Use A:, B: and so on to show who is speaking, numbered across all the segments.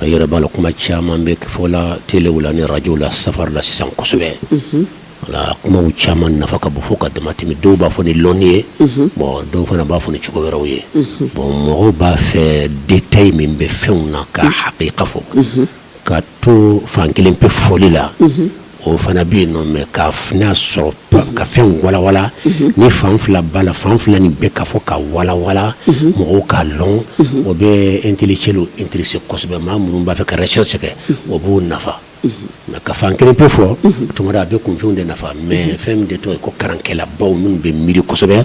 A: A yɛrɛ b'a la kuma caman bɛ ka fɔ a la telew la ni arajow la safari la sisan kosɛbɛ wala kuma caman nafa ka bon fɔ ka dama tɛmɛ dɔw b'a fɔ ni dɔnni ye bon dɔw fana b'a fɔ ni cogo wɛrɛw ye bon mɔgɔw b'a fɛ détail min bɛ fɛnw na ka hakika fɔ ka to fan kelen pe fɔli la o fana bɛ yen non mais ka f sɔrɔ ka fɛn walawala ni fan fila b'a la fan fila nin bɛɛ ka fɔ ka walawala mɔgɔw ka dɔn o bɛ intellectuelw intéresser kosɛbɛ maa minnu b'a fɛ ka recherche kɛ o b'o nafa nka ka fan kelen pe fɔ tuma dɔ la a bɛ kunfin de nafa mais fɛn min de tɔgɔ ye ko kalankɛlabaw minnu bɛ miiri kosɛbɛ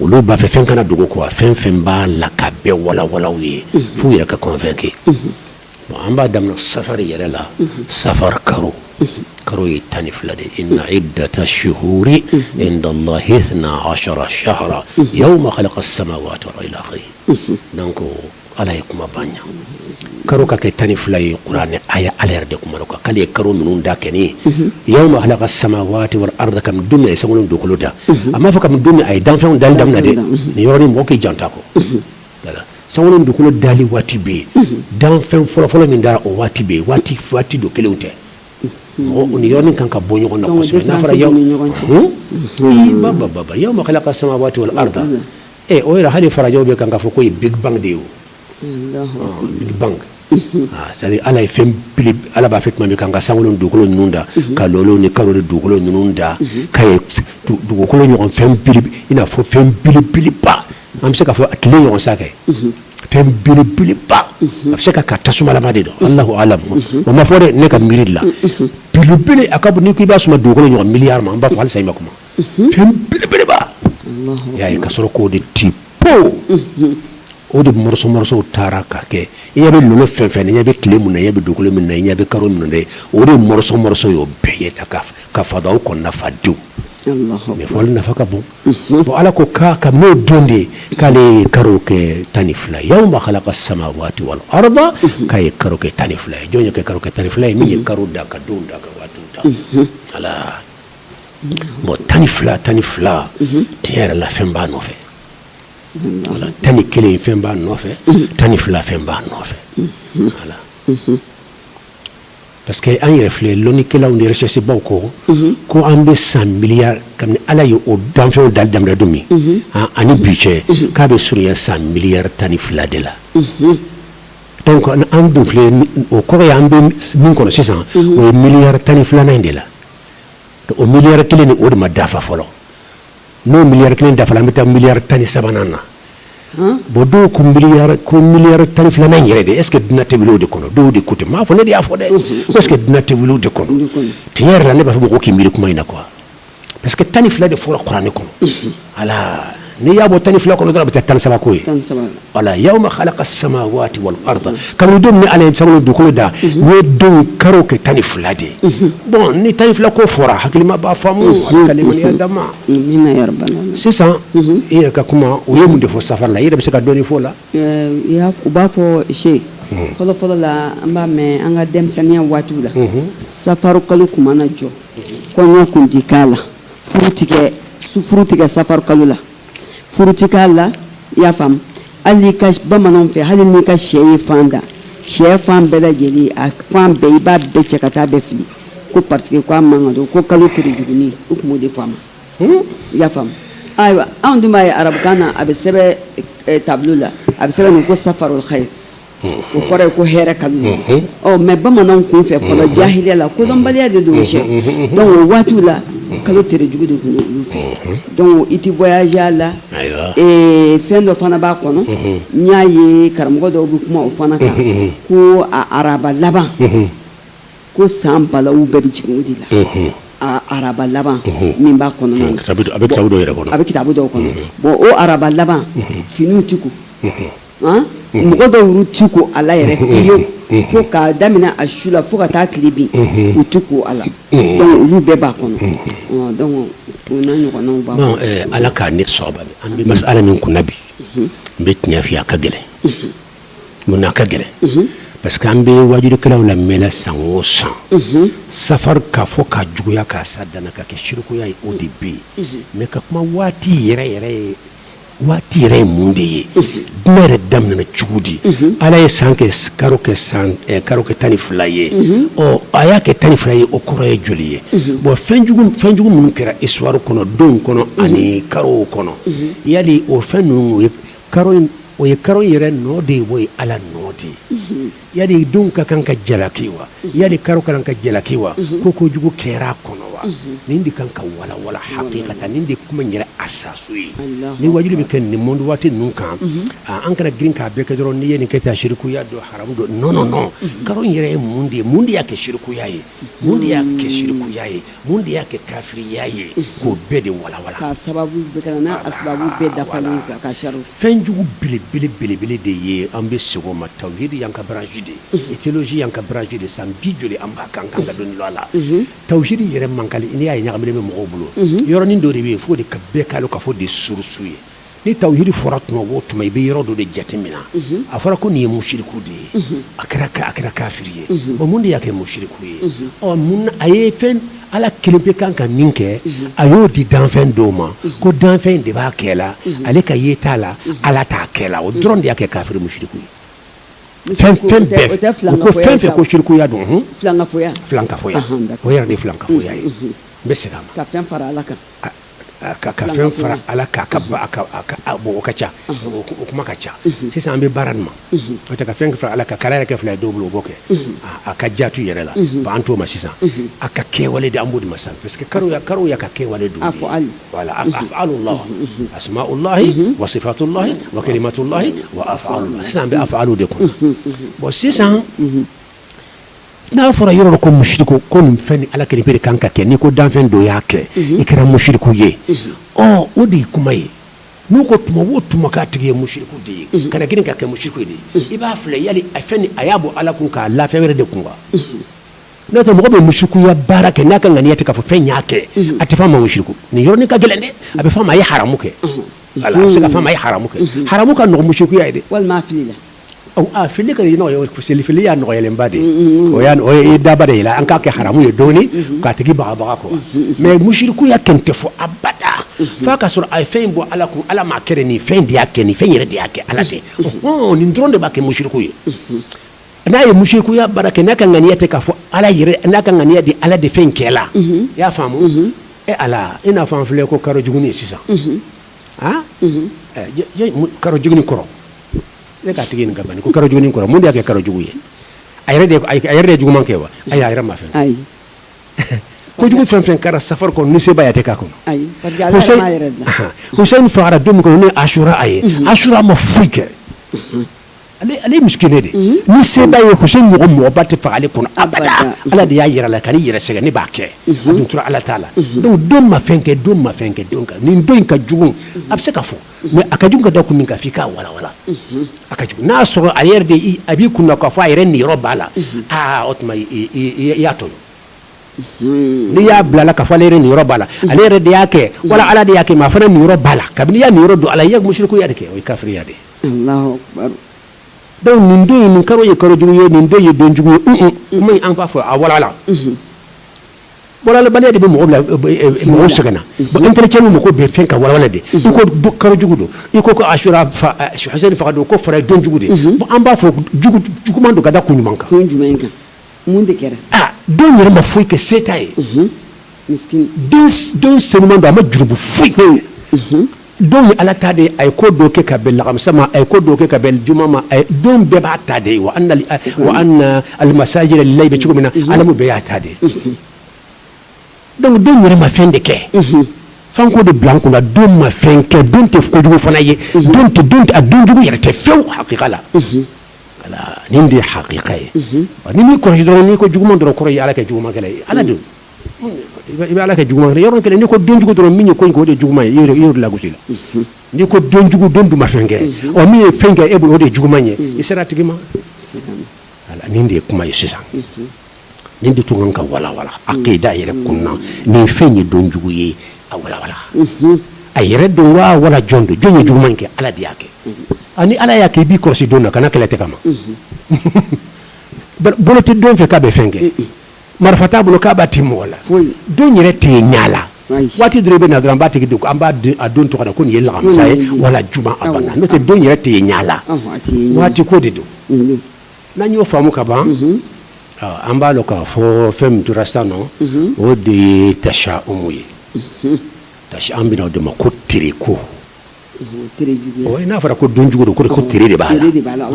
A: olu b'a fɛ fɛn kana dogo ko a fɛn fɛn b'a la ka bɛɛ walawala u ye f'u yɛrɛ ka convaincre Bon an b'a daminɛ safari yɛrɛ la safari karo karo ye tan ni fila de ye inna iddata shuhuri indallahi isna ashara shahran yawma khalaqa samawati wa ila akhirihi donc ala ye kuma ban karo ka kɛ tan ni fila ye kuranɛ aya ala yɛrɛ de kuma kan k'ale ye karo minnu da kabini yawma khalaqa samawati wal arda kabini don min a ye sankolo ni dugukolo da a ma fɔ kabini don min a ye danfɛnw dali daminɛ dɛ nin yɔrɔ nin mɔgɔ k'i janto a kɔ sankolo dugukolo dali waati bɛ yen danfɛn fɔlɔfɔlɔ min dara o waati bɛ yen waati waati don kelen tɛ mɔgɔ ni yɔrɔ kan ka bɔ ɲɔgɔn na yawma khalaqa samawati wal arda ɛ o yɛrɛ hali farajɛw bɛ kan ka fɔ ko big bang de ye c'est-à-dire ala ye fɛn ala b'a fɛ tun bɛ kan ka sankolo ni dugukolo ninnu da ka lolo ni kalo dugukolo ninnu da ka dugukolo ɲɔgɔn fɛn i n'a fɔ fɛn belebeleba an bɛ se ka fɔ a tile ɲɔgɔn sa kɛ fɛn belebeleba a bɛ se ka kɛ tasumalama de don allahu alam o ma fɔ de ne ka miiri la belebele a ka bon n'i b'a suma dugukolo ɲɔgɔn miliyari ma n b'a fɔ alisa ma kuma fɛn belebeleba ala y'a ka sɔrɔ k'o de ti po o de morceau taara ka kɛ i ɲɛ bɛ lolo fɛn fɛn na i ɲɛ bɛ tile min na i ɲɛ bɛ dugukolo min na i ɲɛ bɛ kalo min na o de morceau y'o bɛɛ ye ta ka fada o kɔnɔna nafadenw nafa ka bon bon ala ko k'a kabini o don de k'ale ye karo kɛ tan ni fila ye yawma khalaqa samawati wal arda k'a ye karo kɛ tan ni fila ye jɔn y'o kɛ karo kɛ tan ni fila ye min ye karo da ka donw da ka waatiw da ala bon tan ni fila tan ni fila tiɲɛ yɛrɛ la fɛn b'a nɔfɛ wala tan ni kelen fɛn b'a nɔfɛ tan ni fila fɛn b'a nɔfɛ wala Parce que an yɛrɛ filɛ lonnikɛlaw ni recherches-baw ko, unhun, ko an bɛ san miliyari kabini Ala ye o danfɛnw dali daminɛ don min, unhun, an ani bi cɛ, unhun, k'a bɛ surunya san miliyari tan ni fila de la, unhun, donc an dun filɛ o kɔrɔ ye an bɛ min kɔnɔ sisan, unhun, o ye miliyari tan ni filanan in de la, o miliyari kelen nin o de ma dafa fɔlɔ n'o miliyari kelen dafara an bɛ taa miliyari tan ni sabanan na bon dɔw ko mi ko miliyari tan ni filanan in yɛrɛ de est-ce que dunuya tɛ wuli o de kɔnɔ dɔw de ko ten n m'a fɔ ne de y'a fɔ dɛ est-ce que dunuya tɛ wuli o de kɔnɔ tiɲɛ yɛrɛ la ne b'a fɔ mɔgɔ k'i miiri kuma in na quoi parce que tan ni fila de fɔra kuranɛ kɔnɔ ala n'i y'a bɔ tan ni fila kɔnɔ dɔrɔn a bɛ taa tan ni saba ko ye wala yawma halaka samawaati wal arda kabini don ni ala ye sankolo dugukolo da n ye don karo kɛ tan ni fila de ye bon ni tan ni fila ko fɔra hakilima b'a faamu ala ka limaniya d'an ma Amina ya rabbal
B: alamin. sisan
A: i yɛrɛ ka kuma u ye mun de fɔ safari la i yɛrɛ bɛ se ka dɔɔni fɔ o la Eh, i y'a f-
B: u b'a fɔ cheikh fɔlɔ fɔlɔ la an b'a mɛn an ka denmisɛnninya waatiw la safaro kalo kun mana jɔ kɔɲɔ kun ti k'a la furu ti kɛ su furu ti kɛ safaro kalo la furu ti k'a la i y'a faamu hali ka bamananw fɛ hali n'i ka shɛ ye fan da shɛfan bɛɛ lajɛlen a fan bɛɛ i b'a bɛɛ cɛ ka taa bɛɛ fili ko parce que k'a man kan don ko kalo tere jugunin u tun b'o de fɔ a ma hmm? i y'a faamu ayiwa anw dun b'a ye arabukan na a bɛ sɛbɛn eh, tableau la a bɛ sɛbɛn nin ko safarul khayr o kɔrɔ ye ko hɛrɛ kalo mais bamananw tun fɛ fɔlɔ jahiliya la kodɔnbaliya de don o waati la kalo tere jugu de tun olu fɛ donc i tɛ voyager a la fɛn dɔ fana b'a kɔnɔ n y'a ye karamɔgɔ dɔw bɛ kuma o fana kan ko araba laban ko san bala bɛɛ bɛ jigin o de la araba laban min b'a kɔnɔ a bɛ
A: a bɛ
B: kitabu dɔw kɔnɔ bon o araba laban
A: fini
B: tɛ mɔgɔ dɔw u ti ko a la yɛrɛ fo k'a daminɛ a su la fo ka taa tile bin u tɛ ko a la donc olu bɛɛ b'a kɔnɔ o n'a ɲɔgɔn b'a kɔnɔ ala k'a ne
A: an bɛ masala min kun na bi n bɛ tiɲɛ f'i ye a ka gɛlɛn mun na a ka gɛlɛn parce que an bɛ wajukɛlaww la mɛn san o san safari k'a fɔ ka juguya k'a s'a dan na k'a kɛ sirikuya ye o de bɛ yen mais ka kuma waati yɛrɛ yɛrɛ ye waati yɛrɛ ye mun de ye dunuya yɛrɛ daminɛna cogo di ala ye san kɛ karo kɛ san eh, karo kɛ tan ni fila ye ɔ a y'a kɛ tan ni fila ye o kɔrɔ ye joli ye bon fɛnjugu fɛnjugu minnu kɛra histoire kɔnɔ donw kɔnɔ ani karow kɔnɔ yali o fɛn ninnu o ye karo in o ye karo in yɛrɛ nɔ de ye o ye ala nɔ de ye yali donw ka kan ka jalaki wa yali karo ka kan ka jalaki wa ko kojugu kɛra a kɔnɔ wa nin de kan ka walawala hakikatan nin de kuma yɛrɛ asasu ye ni wajuli bɛ kɛ nin monde waati ninnu kan an kana girin k'a bɛɛ kɛ dɔrɔn n'i ye nin kɛ tan sirikuya don haramu don non non non karo yɛrɛ ye mun de ye mun de y'a kɛ sirikuya ye Mun de y'a kɛ sirikuya ye mun de y'a kɛ kafiriya ye k'o bɛɛ de
B: walawala fɛn jugu belebele
A: belebele de ye an bɛ segin o ma tawhidi y'an ka branche de ye théologie y'an ka branche de san bi joli an b'a kan ka dɔnni lɔ a la tawhidi yɛrɛ man gɛlɛn n'i y'a ye ɲagaminen bɛ mɔgɔw bolo yɔrɔnin dɔ de bɛ yen fo de ka bɛɛ ka ka fɔ de surusu ye ni tawhidi fɔra tuma o tuma i bɛ yɔrɔ dɔ de jateminɛ a fɔra ko nin ye musuriku de ye a kɛra a kɛra kafiri ye bon mun de y'a kɛ musuriku ye ɔ mun a ye fɛn ala kelen pe kan ka min kɛ a y'o di danfɛn dɔw ma ko danfɛn in de b'a kɛ la ale ka ye t'a la ala t'a kɛ la o dɔrɔn de y'a kɛ kafiri musuriku ye fɛn fɛn fɛn ko sirikuya don filankafoya o yɛrɛ de filankafoya ye n bɛ segin a ma
B: ka
A: ka fɛn fara ala kan o ka ca o kuma ka ca sisan an bɛ baara nin ma o tɛ ka fɛn fara ala kan k'ala yɛrɛ kɛ fila ye dɔw bolo b'o kɛ a ka jatu yɛrɛ la an t'o ma sisan a ka kɛwale de an b'o de ma sisan parce que karo y'a ka kɛwale don voilà afalulahi asmaulahi wa sifatulahi wa kalimatulahi wa afalulahi sisan an bɛ afalu de kɔnɔ bon sisan N'a fɔra yɔrɔ dɔ ko musuriku ko nin fɛn ni ala kelen pe de kan ka kɛ n'i ko danfɛn dɔ y'a kɛ i kɛra musuriku ye ɔ o de ye kuma ye n'u ko tuma o tuma k'a tigi ye musuriku de ye kana girin k'a kɛ musuriku de ye i b'a filɛ yali a fɛn ni a y'a bɔ ala kun k'a la fɛn wɛrɛ de kun wa n'o tɛ mɔgɔ bɛ musurikuya baara kɛ n'a ka ŋaniya tɛ k'a fɔ fɛn y'a kɛ a tɛ fɔ a ma musuriku nin yɔrɔnin ka gɛlɛn dɛ a bɛ fɔ a ma a ye haramu kɛ a bɛ se ka fɔ a ma a ye haramu kɛ haramu ka nɔgɔn musurikuya ye dɛ walima
B: Fili
A: ka se fili y'a nɔgɔyalenba de ye o daba de an k'a kɛ haramu ye dɔɔnin k'a tigi bagabaga quoi mais musurikuya kɛni tɛ fɔ abada fo a ka sɔrɔ a ye fɛn in bɔ ala kun ala m'a kɛ nin fɛn de y'a kɛ nin fɛn yɛrɛ de y'a kɛ ala tɛ nin dɔrɔn de b'a kɛ musuriku ye n'a ye musurikuya baara kɛ n'a ka ŋaniya tɛ k'a fɔ ala n'a ka ŋaniya di ala de fɛn kɛ la i y'a faamu e ala i n'a fɔ an filɛ ko karo jugunin ye sisan karo jugunin kɔrɔ ne k'a tigi ɲininka bani ko karo jugunin kɔrɔ mun de y'a kɛ karo jugu ye a yɛrɛ de juguman kɛ wa ayi a yɛrɛ ma fɛn kɛ kojugu fɛn fɛn kɛra safari kɔnɔ ni se b'a ye a tɛ k'a kɔnɔ Hussein fagara don min kɔnɔ ne Asura a ye Asura ma foyi kɛ ale ye misikini de ni se b'a ye Hussein mɔgɔba tɛ faga ale kɔnɔ abada ala de y'a yɛrɛ la kan'i yɛrɛ sɛgɛn ne b'a kɛ tun tora ala t'a la don ma fɛn kɛ don ma fɛn kɛ don kan nin don in ka jugu a bɛ se ka fɔ mɛ a ka jugu ka da kun min kan f'i k'a walawala a ka jugu n'a y'a sɔrɔ a yɛrɛ de a b'i kunna k'a fɔ a yɛrɛ niyɔrɔ b'a la aa o tuma i y'a tɔɲɔ n'i y'a bila la k'a fɔ ale yɛrɛ niyɔrɔ b'a la ale yɛrɛ de y'a kɛ wala ala de y'a kɛ mɛ a fana niyɔrɔ b'a la kabini i y'a niyɔrɔ don a la i ye musirikuya de kɛ o ye kafiriya de ye dɔnku nin don in nin kalo ye kalo jugu ye nin don ye donjugu ye kuma in an b'a fɔ a walawala Walawalabaliya de bɛ mɔgɔ la mɔgɔ sɛgɛn na bon intellectuel mako bɛ fɛn ka walawala de i ko kalo jugu don i ko asura Husɛni faga don ko fara ye donjugu de bon an b'a fɔ juguman don ka da kun jumɛn
B: kan don yɛrɛ ma
A: foyi kɛ se t'a ye don senuman don a ma jurumu foyi kɛ don ye ala ta de ye a ye ko dɔ kɛ ka bɛn lakamisa ma a ye ko dɔ kɛ ka bɛn juma ma a ye don bɛɛ b'a ta de ye wa anna almasajida lillahi bɛ cogo min na alamu bɛɛ y'a ta de ye donc don yɛrɛ ma fɛn de kɛ f'an k'o de bila an kun na don ma fɛn kɛ don tɛ kojugu fana ye don tɛ don a donjugu yɛrɛ tɛ fewu hakika la nin de ye hakika ye n'i m'i kɔlɔsi dɔrɔn n'i ko juguman dɔrɔn kɔrɔ ye ala kɛ jugumankɛla ye ala de I bɛ ala kɛ juguman yɔrɔ kelen n'i ko donjugu dɔrɔn min ye ko in k'o de juguman ye i y'o lagosi la n'i ko donjugu don dun ma fɛn kɛ ɔ min ye fɛn kɛ e bolo o de juguman ye i sera a tigi ma nin de ye kuma ye sisan nin de tun kan ka walawala akida yɛrɛ kun na nin fɛn ye donjugu ye a walawala a yɛrɛ don waa wala jɔn don jɔn ye juguman in kɛ ala de y'a kɛ ani ala y'a kɛ i b'i kɔlɔsi don na kana kɛlɛ tɛ ka ma bolo tɛ don fɛ k'a bɛ fɛn kɛ marifa t'a bolo k'a b'a ti mɔgɔ la don yɛrɛ tɛ yen ɲɛ la waati dɔrɔn bɛ na dɔrɔn an b'a tigi don an b'a a don tɔgɔ da ko nin ye lakamisa ye wala juma a banna n'o tɛ don yɛrɛ tɛ yen ɲɛ la waati ko de don n'an y'o faamu ka ban an b'a dɔn k'a fɔ fɛn min tora sisan o de ye tashaumu ye tasha an bɛna o de ma ko tere ko n'a fɔra ko don jugu don ko tere de b'a la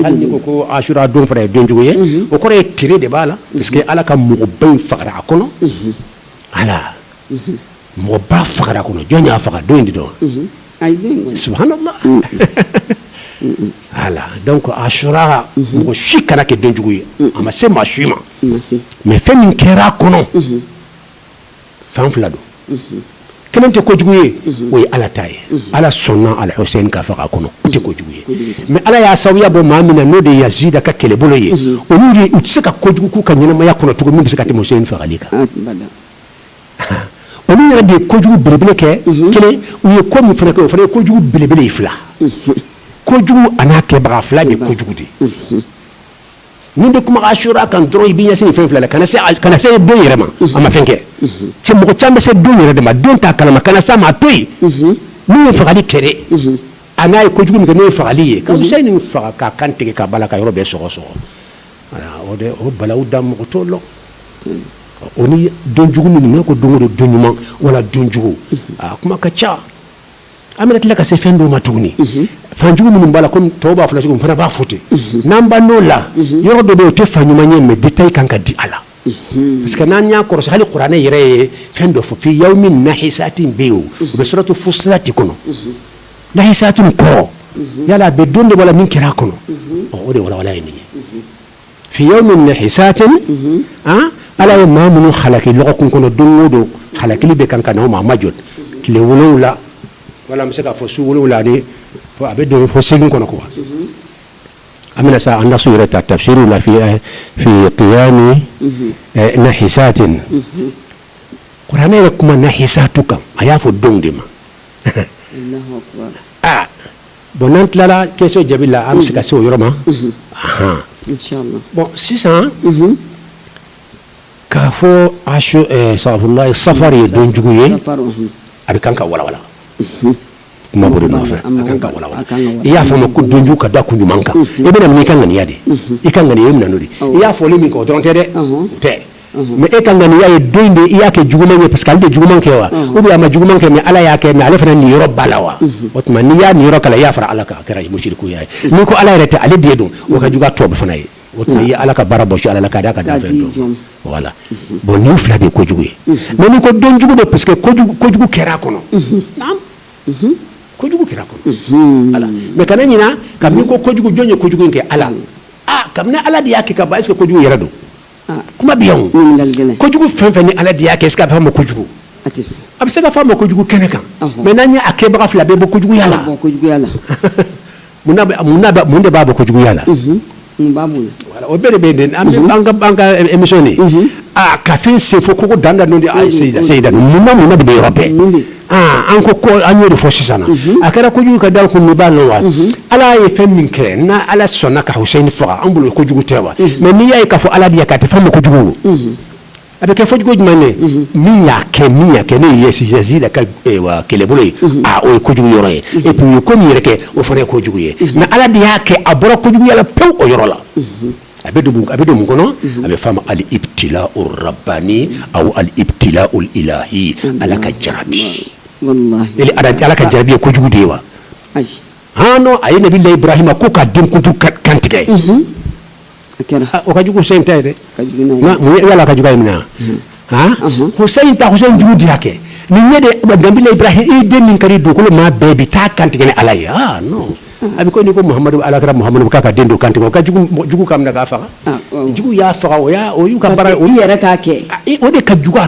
A: hali n'i ko asura don fana ye don jugu ye o kɔrɔ ye tere de b'a la parce que ala ka mɔgɔba in fagara a kɔnɔ ala mɔgɔba fagara a kɔnɔ jɔn y'a faga don in de don subhanallah ala donc asura mɔgɔ si kan'a kɛ don jugu ye a ma se maa si ma mɛ fɛn min kɛra a kɔnɔ fan fila don kelen tɛ kojugu ye o ye ala ta ye ala sɔnna al-Husɛni ka faga a kɔnɔ o tɛ kojugu ye mɛ ala y'a sababuya bɔ maa min na n'o de ye Yazidi ka kɛlɛbolo ye olu u tɛ se ka kojugu k'u ka ɲɛnamaya kɔnɔ cogo min bɛ se ka tɛmɛ Husɛni fagali kan olu yɛrɛ de ye kojugu belebele kɛ kelen u ye ko min fana kɛ o fana ye kojugu belebele ye fila kojugu an'a kɛbaga fila de ye kojugu de N'i bɛ kuma asura kan dɔrɔn i b'i ɲɛsin fɛn fila la kana se don yɛrɛ ma a ma fɛn kɛ cɛ mɔgɔ caman bɛ se don yɛrɛ de ma don t'a kalama kana s'a ma a to yen n'u ye fagali kɛ a n'a ye kojugu min kɛ n'o ye fagali ye ka Husaini faga k'a kan tigɛ ka bala ka yɔrɔ bɛɛ sɔgɔ sɔgɔ o o balawu dan mɔgɔ t'o lɔn o ni donjugu minnu ko don don don ɲuman wala donjugu a kuma ka ca an bɛna tila ka se fɛn dɔw ma tuguni fanjugu minnu b'a la kɔmi tɔw b'a fɔ la cogo min fana b'a fɔ ten n'an banna o la yɔrɔ dɔ bɛ yen o tɛ fan ɲuman ye mais détail kan ka di a la parce que n'an y'a kɔrɔsi hali kuranɛ yɛrɛ ye fɛn dɔ fɔ fi yawmin nahisatin bɛ yen o bɛ suratu Fussilat kɔnɔ nahisatin kɔrɔ yala a bɛ don de wala min kɛra a kɔnɔ o de walawala ye nin ye fi yawmin nahisatin ala ye maa minnu halaki lɔgɔkun kɔnɔ don o don halakili bɛ kan ka na u ma a ma jɔ tile wolonwula wala an bɛ se k'a fɔ su wolonwula ani a bɛ don fo segin kɔnɔ quoi an bɛna sa an da su yɛrɛ ta tafsiriw la fi eh, fi qiyami eh, nahisatin kuranɛ yɛrɛ kuma nahisatu kan a y'a fɔ donw de ma Allahu akbar. a Bon n'an tilala question jaabi la an bɛ se ka se o yɔrɔ ma bon sisan k'a fɔ saba safari ye donjugu ye a bɛ kan ka walawala kuma bolo nɔfɛ a kan ka walawala i y'a fɔ a ma ko donjugu ka da kun jumɛn kan i bɛna min i ka ŋaniya de i ka ŋaniya bɛ min na o de i y'a fɔli min kɛ o dɔrɔn tɛ dɛ tɛ mais e ka ŋaniya ye don de i y'a kɛ juguman ye parce que ale de juguman kɛ wa ou bien a ma juguman kɛ mais ala y'a kɛ mais ale fana niyɔrɔ b'a la wa o tuma n'i y'a niyɔrɔ k'a la i y'a fara ala kan a kɛra musirikuya ye n'i ko ala yɛrɛ tɛ ale de don o ka jugu tɔ fana ye o tuma i ye ala ka baara bɔ ala la k'a d'a ka danfɛn dɔw la bon nin fila de ye kojugu ye mais n'i ko donjugu de parce que kojugu kɛra a kɔnɔ kojugu kɛra a kɔnɔ ala mais kana ɲina kabini ko kojugu jɔn ye kojugu kɛ ala kabini ala de y'a kɛ ka ban est-ce que kojugu yɛrɛ don Kuma bɛ yan kojugu fɛn fɛn ni ala de y'a kɛ est-ce que a bɛ f'a ma kojugu a bɛ se ka f'a ma kojugu kɛnɛ kan mais n'an ye a kɛbaga filɛ a bɛ bɔ kojuguya la mun de b'a bɔ kojuguya la o bɛɛ de bɛ an ka émission nin ka fɛn sen fo ko danda de Seyida mun ni mun de bɛ yɔrɔ bɛɛ an ko an y'o de fɔ sisan a kɛra kojugu ka da kun min b'a la wa ala ye fɛn min kɛ n' ala sɔnna ka Husaini faga an bolo kojugu tɛ wa mais n'i y'a ye k'a fɔ ala de y'a kɛ a tɛ f'a ma kojugu a bɛ kɛ fɔcogo jumɛn ye min y'a kɛ min y'a kɛ n'o ye Yazida ka kɛlɛbolo ye o ye kojugu yɔrɔ ye et puis u ye ko min yɛrɛ kɛ o fana ye kojugu ye mais ala de y'a kɛ a bɔra kojuguya la pewu o yɔrɔ la a bɛ don a bɛ don mun kɔnɔ a bɛ f'a ma al ibtilau rabbani aw al ibtilau ilahi ala ka jarabi ala ala ka jarabi ye kojugu de ye wa non a ye nabilahi ibrahima ko k'a den kuntu k'a kantigɛ o ka jugu husayini ta ye dɛ ala ka jugu in minɛ husayini ta husayini jugu de y'a kɛ ni ɲɛ de nabilahi ibrahima i den min ka di dugukolo maa bɛɛ i bɛ taa a kantigɛ ne ala ye non a bɛ i ko n'i ko muhamadu ala kira muhamadu k'a ka den dɔ kantigɛ k'a jugu k'a minɛ k'a faga jugu y'a faga o y'u ka baara yɛrɛ k'a kɛ
B: o de ka jugu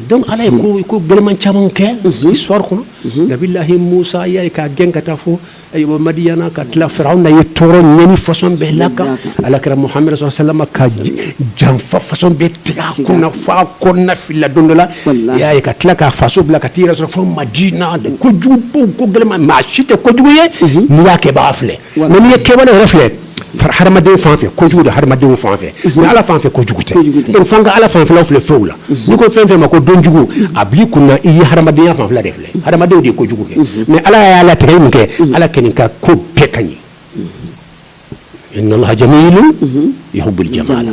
A: dɔnku ala ye ko gɛlɛnman caman kɛ histoire kɔnɔ nabilahi musa i y'a ye k'a gɛn ka taa fo madiyana ka tila firawuna y'a tɔɔrɔ ɲani fasɔn bɛɛ l'a kan ala kira muhamadu salalahu alayihi wasalamu ka janfa fasɔn bɛɛ tigɛ a kun na f'a kɔnɔnafilila don dɔ la y'a ye ka tila k'a faso bila ka taa a yɛrɛ sɔrɔ fo madina de kojugu ko gɛlɛnman maa si tɛ kojugu ye n'i y'a kɛbaa filɛ mɛ i ye kɛbaa yɛrɛ filɛ hadamadenw fan fɛ kojugu don hadamadenw fan fɛ mais ala fan fɛ kojugu tɛ donc f'an ka ala fanfɛlaw filɛ fɛnw la n'i ko fɛn fɛn ma ko don jugu a b'i kun na i ye hadamadenya fanfɛla de filɛ hadamadenw de ye kojugu kɛ mais ala y'a latigɛ ye mun kɛ ala kɔni ka ko bɛɛ ka ɲi inna allaha jamilun yuhibbul jamala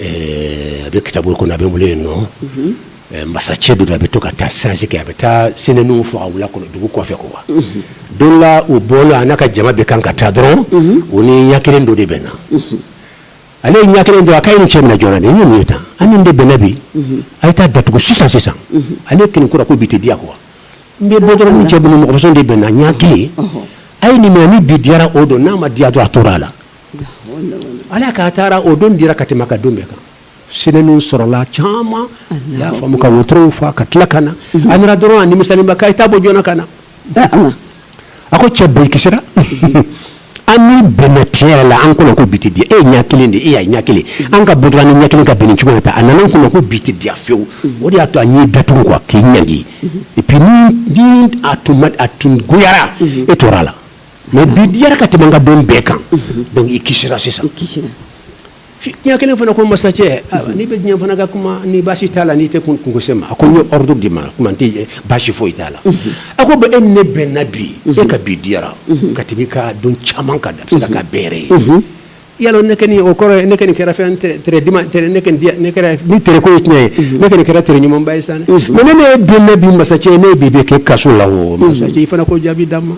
A: a bɛ kitabu kɔnɔ a bɛ wele yen nɔ masacɛ dɔ a bɛ to ka taa sasi kɛ a bɛ taa sinɛw faa wula kɔnɔ dugu kɔfɛ ko wa don dɔ la u bɔla a n'a ka jama bɛ kan ka taa dɔrɔn u ni ɲɛ kelen dɔ de bɛnna ale ye ɲɛ kelen don a ko a ye nin cɛ minɛ joona nin ye ye tan a ni ne de bɛnna bi a ye taa a datugu sisan sisan ale kelen kura ko bi tɛ diya ko n bɛ bɔ dɔrɔn ni cɛ bolo mɔgɔsɔn de bɛnna ɲɛ kelen a ye nin minɛ ni bi diyara o don n'a ma diya dun a tora a la Ala k'a taara o don diyara ka tɛmɛ ka don bɛɛ kan sinɛw sɔrɔla caman y'a faa mumɛ ka wotorow fa ka tila ka na a nana dɔrɔn a nimisalenba ko a ye taa a bɔ joona ka na a ko cɛ bon i kisira an ni i bɛnna tiɲɛ yɛrɛ la an kɔnɔ ko bi tɛ diya e ɲɛ kelen de e ɲɛ kelen an ka bɔ dɔrɔn ni ɲɛ kelen ka bɛn nin cogo ta a nana n kɔnɔ ko bi tɛ diya fɛwu o de y'a to n y'i datugu ko k'i ɲangi n'a tun ma a tun goyara e tora a la mɛ bi diyara ka tɛmɛ ka don bɛɛ kan dɔnku i kisira sisan ɲɛ kelen fana ko masacɛ n'i bɛ diɲɛ n fana ka kuma ni basi t'a la n'i tɛ kunko se n ma a ko n ye ordre d'i ma kuma tɛ basi foyi t'a la a ko bon e ni ne bɛnna bi e ka bi diyara ka tɛmɛ ka don caman kan da ka bɛɛrɛ ye ya ne o kɔrɔ ne kɛra fɛn ni tko ye tiɲɛ ye ne kɛra kɛra t ɲumanba ye sa ne ne don ne bi masa cɛ ne bi bɛ kɛ kaso la o i fana ko jaabi d'a ma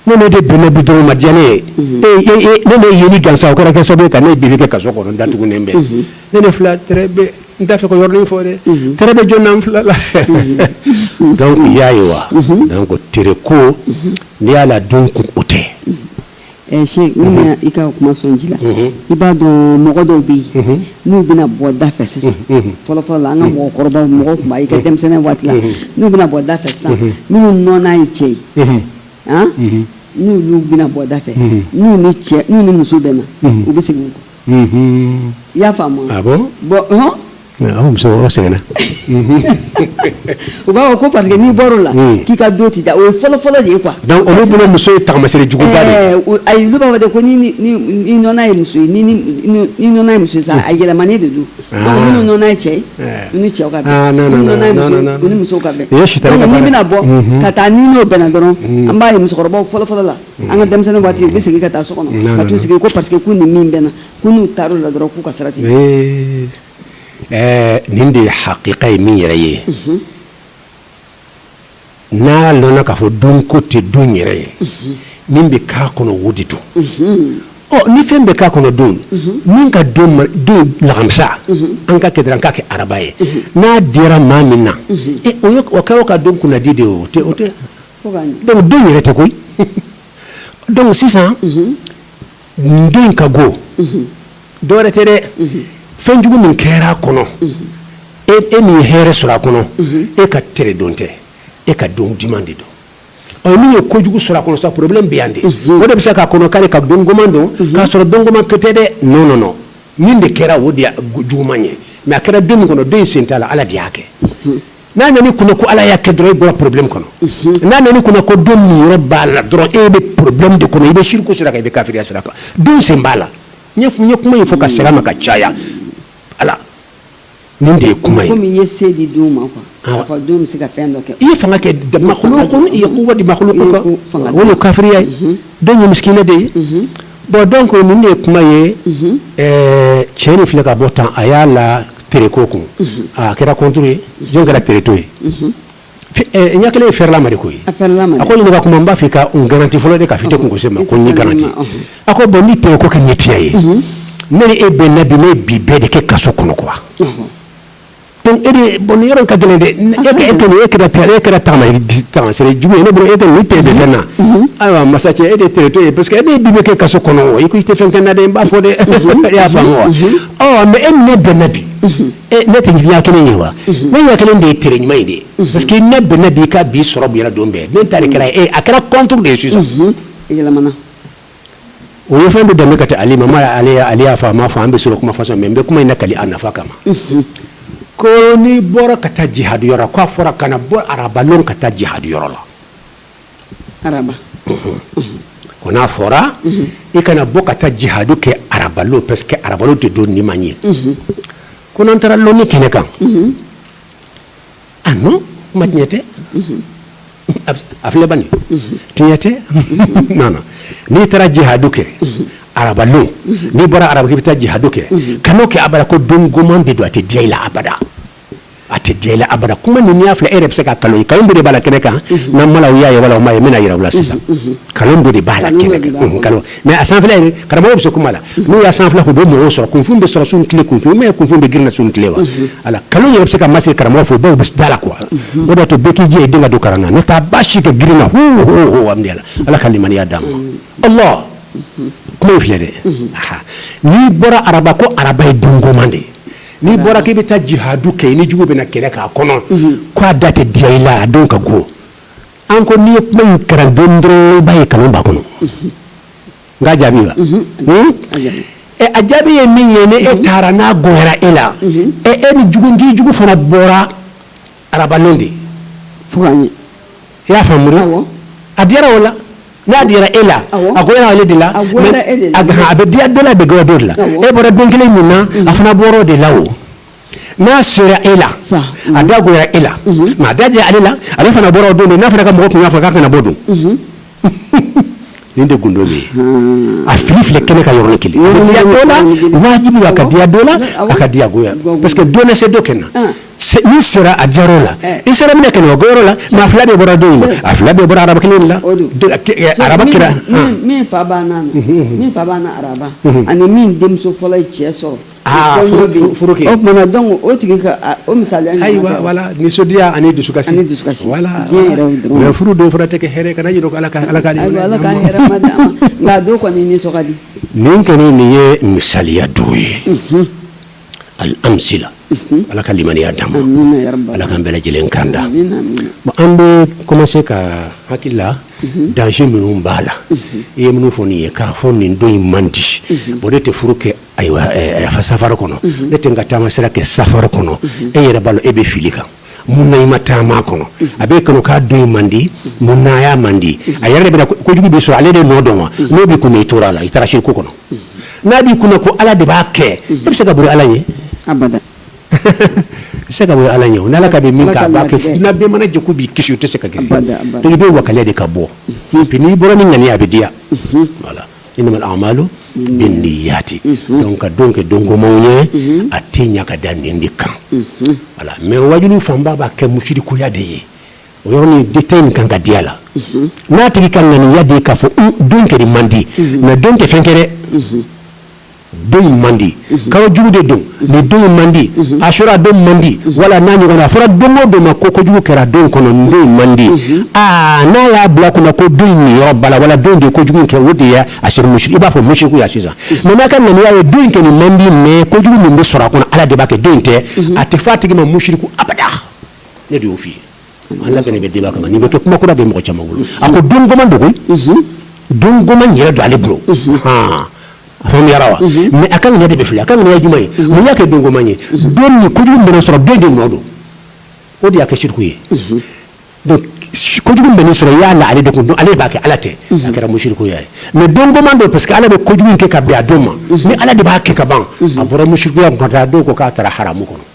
A: ne ne de don ne bi ma diya ne ye ne ne ye ni gansa kɔrɔ kɛ sababu ka ne bi kɛ ka so kɔnɔ dat ne ne n da fɛ ko yɔrɔ fɔ dɛ t bɛ jɔn fila la dɔnku y'a ye wa ko teri ko ne y'a la don kun o tɛ
B: Ɛ Sɛki ne ma i ka kuma sɔn ji la, unhun, i b'a dɔn mɔgɔ dɔw bɛ yen, unhun, n'u bɛna bɔ da fɛ sisan, unhun, fɔlɔ fɔlɔ la an ka mɔgɔkɔrɔbaw mɔgɔw tun b'a ye i ka denmisɛnninya waati la, unhun, n'u bɛna bɔ da fɛ sisan, unhun, minnu nɔna ye cɛ ye, unhun, an, unhun, n'olu bɛna bɔ da fɛ, unhun, n'u ni cɛ n'u ni muso bɛnna, unhun, u bɛ segin u kɔ, unhun, i y'a faamu wa, ah bon, bon
A: ɔnhɔn Muso
B: seginna u b'a ko parce que n'i bɔra la k'i ka don tɛ diya o ye fɔlɔ fɔlɔ de ye quoi donc u bolo muso ye
A: taamasere jugu ye ayi olu b'a fɔ de ko
B: n'i nɔna ye muso ye n'i nɔna ye muso ye sa a yɛlɛmanen de don n'i nɔna ye cɛ ye
A: ni cɛ
B: n'i bɛna bɔ ka taa n'i n'o bɛnna dɔrɔn an b'a ye musokɔrɔba fɔlɔ fɔlɔ la an ka denmisɛnnin waati u bɛ segin ka taa so kɔnɔ ka t'u sigi ko parce que k'u ni min bɛnna ko n'u taara o la dɔrɔn k'u ka sira
A: nin de ye hakika ye min yɛrɛ ye n'a lɔnna k'a fɔ don ko tɛ don yɛrɛ ye min bɛ k'a kɔnɔ o de don ɔ ni fɛn bɛ k'a kɔnɔ don min ka don lakamisa an ka kɛ an k'a kɛ araba ye n'a diyara maa min na o ka o ka don kunnadi de o tɛ donc don yɛrɛ tɛ koyi donc sisan don in ka go dɔwɛrɛ tɛ dɛ fɛnjugu min kɛra a kɔnɔ e, e min ye hɛrɛ sɔrɔ a kɔnɔ e ka tere don tɛ e ka don duman de don ɔ min ye kojugu sɔrɔ a kɔnɔ sa problème bɛ yan de o de bɛ se k'a kɔnɔ k'ale ka don goman don k'a sɔrɔ don goman ko tɛ dɛ non non non min de kɛra o de ye juguman ye mais a kɛra don min kɔnɔ don in sen t'a la Ala de y'a kɛ n'a nana i kunna ko ala y'a kɛ dɔrɔn i bɔra problème kɔnɔ mhm. n'a nana i kunna ko don niyɔrɔ b'a la dɔrɔn e bɛ problème de kɔnɔ i bɛ shiriku sira kan i bɛ kafiriya sira kan don sen b'a la n ye kuma in fɔ ka sɛgɛn ma ka caya ala nin de ye kuma ye komi i ye se di
B: don ma quoi ah. k'a fɔ don bɛ se ka fɛn dɔ kɛ i ye fanga kɛ
A: makhluku kɔnɔ i ye quwwa di makhluku kɔnɔ o ye kafiriya ye mhm. don ye misikina de ye mhm. bon donc nin de ye kuma ye cɛ nin filɛ ka bɔ tan a y'a la tere ko kun a kɛra contre ye jɔn kɛra teretɔ ye ɲɛ kelen ye fɛɛrɛlama de koyi a ko ɲininka kuma n b'a fɛ i ka n garanti fɔlɔ de k'a f'i tɛ kunko se n ma ko n y'i garanti a ko bon ni tere ko kɛ ye tiɲɛ ye ne ni e bɛnna bi ne ye bi bɛɛ de kɛ kaso kɔnɔ quoi donc e de bon yɔrɔ in ka gɛlɛn dɛ e tun e kɛra e kɛra taamasere jugu ye ne bolo e tɛ ni tere bɛ fɛn na ayiwa masa cɛ e de teretɔ ye parce que e bi bɛɛ kɛ kaso kɔnɔ i ko i tɛ fɛn kɛ n na dɛ n b'a fɔ dɛ i y'a faamu wa Mais e ni ne bɛnna bi ne tɛ ɲɛ kelen ye wa ne ɲɛ kelen de ye tere ɲuman ye de parce que ne bɛnna bi i ka bi sɔrɔ bonyana don bɛɛ ne ta de kɛra e a kɛra contre de ye sisan a yɛlɛmana o ye fɛn bɛ dɛmɛ ka taa alimamu Ali y'a fɔ a m'a fɔ an bɛ sɔrɔ kuma façon mais n bɛ kuma in nakali a nafa kama ko n'i bɔra ka taa jihadu yɔrɔ la k'a fɔra kana bɔ araba lon ka taa jihadu yɔrɔ la ko n'a fɔra i kana bɔ ka taa jihadu kɛ arabalon parce que arabalon tɛ don ɲuman ye ko n'an taara lɔni kɛnɛ kan ah non kuma tiɲɛ tɛ a filɛ bani tiɲɛ tɛ non n'i taara jihadu kɛ arabalon n'i bɔra araba k'i bɛ taa jihadu kɛ kan'o kɛ abada ko don goman de don a tɛ diya i la abada a tɛ diya i la abada kuma nin n'i y'a filɛ e yɛrɛ bɛ se ka kalon ye kalon de b'a la kɛnɛ kan n'an ma y'a ye wala u m'a ye n bɛn'a yira u la sisan kalon de b'a la kalon mais a sanfɛla karamɔgɔ bɛ se kuma la n'u y'a sanfɛla u bɛ mɔgɔw sɔrɔ kunfin bɛ sɔrɔ sun tile kunfin mais kunfin bɛ girinna sun tile wa a kalon yɛrɛ bɛ se ka masiri karamɔgɔ fo dɔw bɛ da a la quoi o b'a to bɛɛ k'i jija i den ka don kalan na n'o tɛ a baasi ka girin a la ala ka limaniya d'an ma kuma in filɛ dɛ n'i bɔra araba ko araba ye don goman de ye N'i bɔra k'i bɛ taa jihadu kɛ i n'i jugu bɛna kɛlɛ k'a kɔnɔ, unhun, k'a da tɛ diya i la a don ka go, an ko n'i ye kuma in karan dɔɔnin dɔrɔn i b'a ye kalon b'a kɔnɔ, unhun, n k'a jaabi wa, unhun, ɛ a jaabi ye min ye ni e taara n'a goyara e la, unhun, ɛ e n'i jugu n k'i jugu fana bɔra arabalon de ye
B: fo i y'a
A: faamuya a diyara o la n'a diyara e la a goyara ale de la a bɛ diya dɔ la a bɛ goya dɔ de la e bɔra don kelen min na mm. a fana bɔra o de la o n'a sera e la a da goyara e la mm-hmm. mais a da diyara ale la ale fana bɔra o don de n'a fana ka mɔgɔ tun y'a fɔ k'a kana bɔ dun mm-hmm. nin de gundo bɛ yen a fili filɛ kɛnɛ kan yɔrɔ kelen a bɛ diya dɔ la wajibi a ka diya dɔ la a ka diya goya parce que dɔ na se dɔ kɛ na min sera a diyara o la i sera min na kɛnɛ a goyara o la mais a fila bɛɛ bɔra don in na a fila bɛɛ bɔra araba kelen de la araba kɛra min fa
B: banna araba ani min denmuso fɔlɔ ye cɛ sɔrɔ
A: o tigi
B: o misali
A: nisɔndiya ani dusu dusu furu dɔw fana tɛ hɛrɛ ka jira ala ka ala
B: nin kɔni nin
A: ye misaliya dugu ye ali anmisi ala ka lammiiniya da ma ala ka bɛ lajɛlen kanda an bɛ kɔmase ka hala dan minnu b'a la i ye minnu fɔ nin ye k'a fɔ nin don in man di o de tɛ furu kɛ ayiwa fa safari kɔnɔ ne tɛ n ka taama sira kɛ safari kɔnɔ e yɛrɛ b'a lɔn e bɛ fili kan mun na i ma taama kɔnɔ a b'e kɔnɔ k'a don man di mun na a man di a yɛrɛ bɛna kojugu bɛ sɔrɔ ale de nɔ don wa n'o b'i kun na i tora a la i taara siriki kɔnɔ n'a b'i kun na ko ala de b'a kɛ e bɛ se ka boli ala ɲɛ se ka bɔ ala ɲɛ o ala ka min mana jɛ k'i kisi o tɛ se ka kɛ i bɛ wakali de ka bɔ n'i bɔra ni ŋaniya a bɛ diya Innamal a'malu binniyati donc ka don kɛ don gomanw ye a tɛ ɲa ka da nin de kan voilà mais wajulu fanba b'a kɛ musirikuya de ye o yɔrɔnin détail in kan ka di a la n'a tigi ka ŋaniya de ye k'a fɔ don kɛnin man di mais don tɛ fɛn kɛ don man di kalo jugu de don ni don man di asura don man di wala n'a ɲɔgɔn a fɔra don o don ma ko kojugu kɛra don kɔnɔ don man di aa n'a y'a bila kunna ko don nin yɛrɛ b'a la wala don de ye kojugu kɛ o de ye a sera musiri i b'a fɔ musirikuya sisan mais n'a ka ŋaniya ye don in kɛnin man di mais kojugu min bɛ sɔrɔ a kɔnɔ ala de b'a kɛ don tɛ a tɛ fɔ a tigi ma musiriku abada ne de y'o fɔ i ye An labɛnnen bɛ débat kama nin bɛ kɛ kuma kura bɛ mɔgɔ caman bolo a ko don goman don go don goman yɛrɛ don ale bolo a faamuyara wa mais a ka ŋaniya de bɛ fili a ka ŋaniya jumɛn ye mun y'a kɛ don goman ye don nin kojugu min bɛ sɔrɔ don de nɔ don o de y'a kɛ siriku ye donc kojugu bɛ sɔrɔ i y'a la ale de kun don ale b'a kɛ ala tɛ a kɛra musirikuya ye mais don goman don parce que ala bɛ kojugu kɛ ka bɛn a don ma ni ala de b'a kɛ ka ban a bɔra musirikuya kɔnɔ a don ko k'a taara haramu kɔnɔ